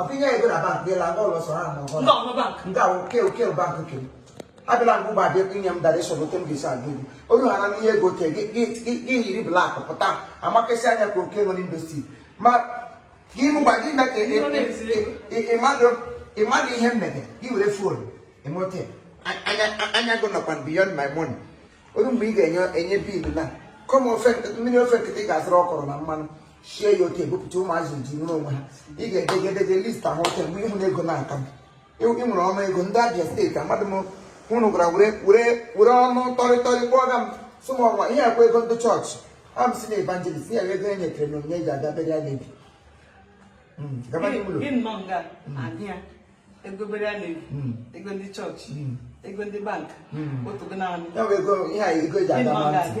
Ọkụ inye ego na bank ịla nga ụlọ sọrọ ama ọhụrụ. Ndị ọma bank. Nke ahụ ke oke bank nke m. Abịala ngwa ụgbọ abịa inye m dara ịsọrọ ote m ga-esi agụ gị. Olu ha na ihe ego te gị yiri blak pụta amakesị anya ka oke nwere industry. Ma gị mụgba gị me ka ịmadụ ihe m mege gị were fon emote anya gị nọkwa beyond my money. Olu mgbe ị ga-enye enye biilu na kọm ofe mmiri ofe nkịtị ga-azụrụ ọkọrọ na mmanụ. shie ya oke ebupụta ụmụazị ji nwere onwe ha ị ga-edegedede list ahụ oke mgbe ị hụ na ego n'aka m ị nwere ọnụ ego ndị Abia steeti amadị m hụrụ gwara were ọnụ tọrịtọrị kpọọ ga m sị m ọnwa ihe akwa ego ndị chọọchị a m si na evangelist ya ego e nyetere na onyinye ji aga bere ya na-ebi hmm, gaba n'ime ụlọ egobere a na-ebi hmm. ego ndị chọọchị hmm. ego ndị bank hmm. otu gị na-anụ ya bụ ego ihe a ego eji aga ma ntị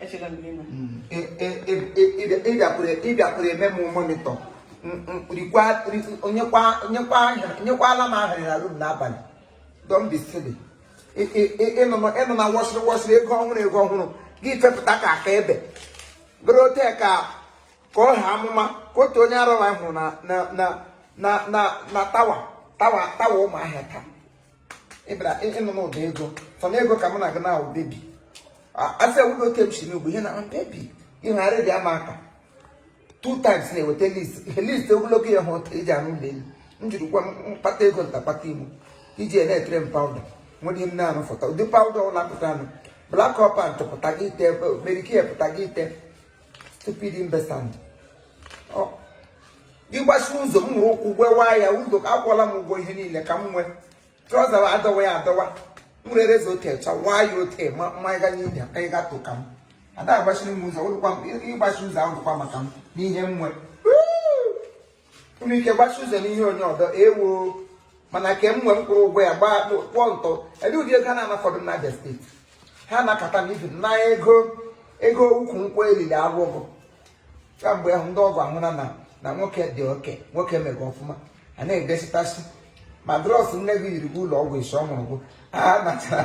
ị bịakwuru eme m monitor nyekwala m ahịrị na room n'abalị don't be silly ị nụ na wọsịrị wọsịrị ego ọhụrụ ego ọhụrụ gị fepụta ka aka ebe bụrụ ote ka ka ọ ha amụma ka otu onye arụla hụrụ na tower tower tower Ụmụahịa taa ị bịara ị nụ n'ụdị ego fọ na ego ka m na-aga na baby asị ewudo oke m si n'ugbo ihe na baby ị hara dị amaka two times na-eweta list list ogologo ya hụ ụta iji anụ ụlọ elu m jiri gwa mkpata ego ntakpata imo i ji na-etere m powder nwere ihe m na-anụ fọta ụdị powder ọ na-apụtanụ Black Opal ntụpụta gị i te Mary Kay ya pụta gị i te stupid investment gị gbasi ụzọ m were ụkwụ gwewa ya ụzọ akwụọla m ụgwọ ihe niile ka m nwee trouser adọwa ya adọwa m were razor ote chawaa ya ote ma mmanya ga n'ihi anyị gatụ ka m ada agbachiri m ụzọ ị gbachi ụzọ ahụ dịkwa maka m n'ihe m nwee i nwe ike gbachi ụzọ n'ihe onye ọdọ ewo mana ke m nwe m kwụrụ ụgwọ ya gbaa kpụọ ntọ ebe ụdị ego na-anafọdụ na Abia steeti ha nakọta na ibi na ego ego ukwu nkwụ erili agwụgụ kamgbe ahụ ndị ọgọ ahụna na nwoke dị okay nwoke mere ọfụma a na-edesitasị ma dross nne gị yiri ga ụlọ ọgwụ isi ọ mụrụ gụ a natara